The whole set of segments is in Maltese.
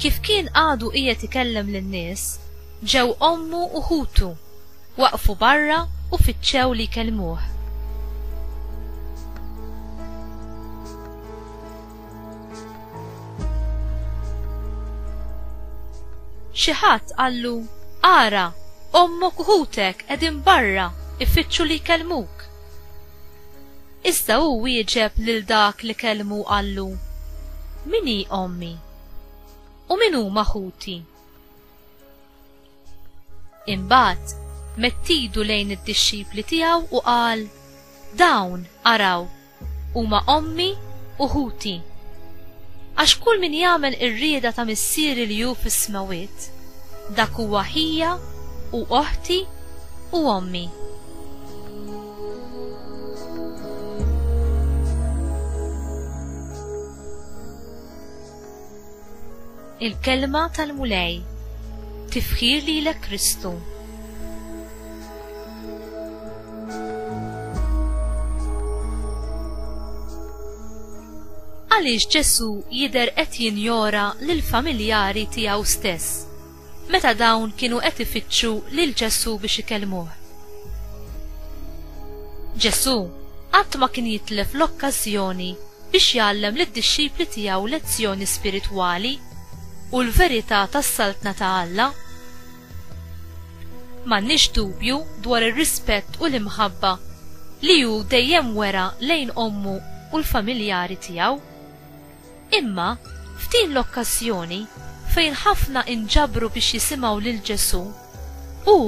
Kif kien għadu qiegħed ikellem lin-nies, ġew ommu u ħutu, waqfu barra u fittxew li jkellmuh. Xi ħadd qallu, Ara, ommok u ħutek qegħdin barra, ifittxu li jkellmuk. Iżda hu wieġeb lil dak li kellmu u qallu, Min hi ommi? U min huma ħuti? Imbagħad medd idu lejn id-dixxipli tiegħu u qal, Dawn, araw, huma ommi u ħuti. Għax kull min jagħmel ir-rieda ta' Missieri li hu fis-smewwiet, dak huwa ħija u oħti u ommi. Il-kelma tal-Mulej tifħir li l Kristu. Għaliex Ġesu jider qed jinjora lill-familjari tiegħu stess? meta dawn kienu qed ifittxu lil Ġesù biex ikellmuh. Ġesù qatt ma kien jitlef l-okkażjoni biex jgħallem lid-dixxipli tiegħu lezzjoni spiritwali u l-verità tas-Saltna ta' Alla. M'għandniex dubju dwar ir-rispett u l-imħabba li hu dejjem wera lejn ommu u l-familjari tiegħu. Imma, f'din l-okkażjoni, fejn ħafna inġabru biex jisimgħu lil Ġesù, hu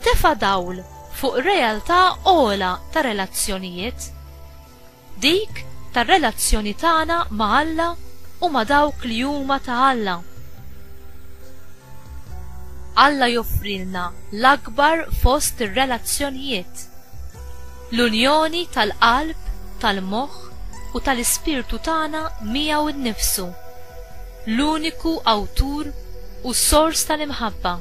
tefa' dawl fuq realtà ogħla ta' relazzjonijiet, dik tar-relazzjoni tagħna ma' Alla u ma' dawk li huma ta' Alla. Alla joffrilna l-akbar fost ir-relazzjonijiet. L-unjoni tal-qalb, tal-moħħ u tal-ispirtu tagħna miegħu nnifsu, l-uniku Awtur u Sors tal-imħabba.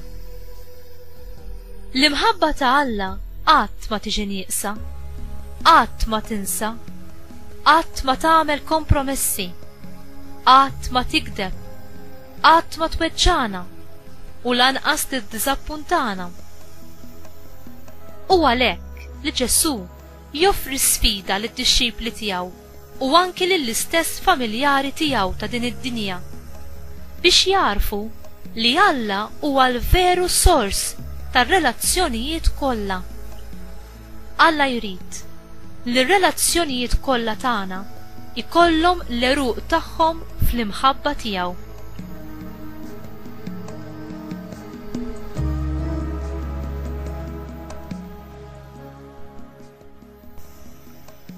L-imħabba ta' Alla qatt ma tiġi nieqsa, qatt ma tinsa, qatt ma tagħmel kompromessi, qatt ma tigdeb, qatt ma tweġġagħna u lanqas tiddiżappuntana. U għalhekk, li Ġesù joffri sfida lid-dixxipli tiegħu u anki lill-istess familjari tiegħu ta' din id-dinja biex jagħrfu li Alla huwa l-veru sors tar-relazzjonijiet kollha. Alla jrid li r-relazzjonijiet kollha tagħna jkollhom l-għeruq tagħhom fl-imħabba tiegħu.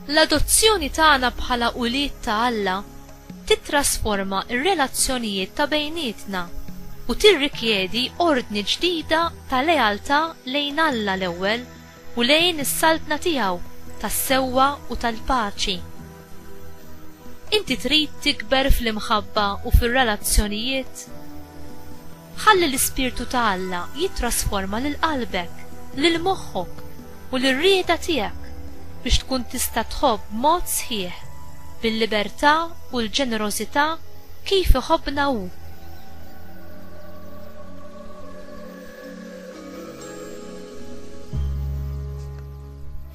L-adozzjoni tagħna bħala ulied ta' Alla titrasforma r-relazzjonijiet ta' bejnietna u tirrikjedi ordni ġdida ta' lealtà lejn Alla l-ewwel u lejn is-saltna tiegħu tas-sewwa u tal-paċi. Inti trid tikber fl-imħabba u fir-relazzjonijiet? Ħalli l-Ispirtu ta' Alla jittrasforma lil qalbek, lil moħħok, u lir-rieda tiegħek biex tkun tista' tħobb b'mod sħiħ, bil-libertà u l-ġenerożità kif iħobbna Hu.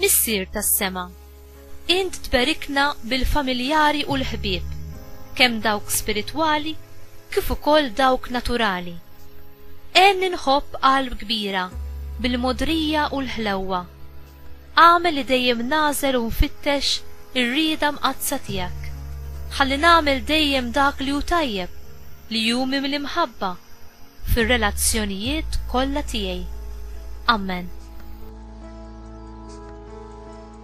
Missier tas-Sema, Int tberikna bil-familjari u l-ħbieb, kemm dawk spiritwali kif ukoll dawk naturali. Għenni nħobb qalb kbira bil-mogħdrija u l-ħlewwa. Agħmel li dejjem nagħżel u nfittex ir-rieda mqaddsa tiegħek. Ħalli nagħmel dejjem dak li hu tajjeb, li hu mimli mħabba, fir-relazzjonijiet kollha tiegħi. Amen.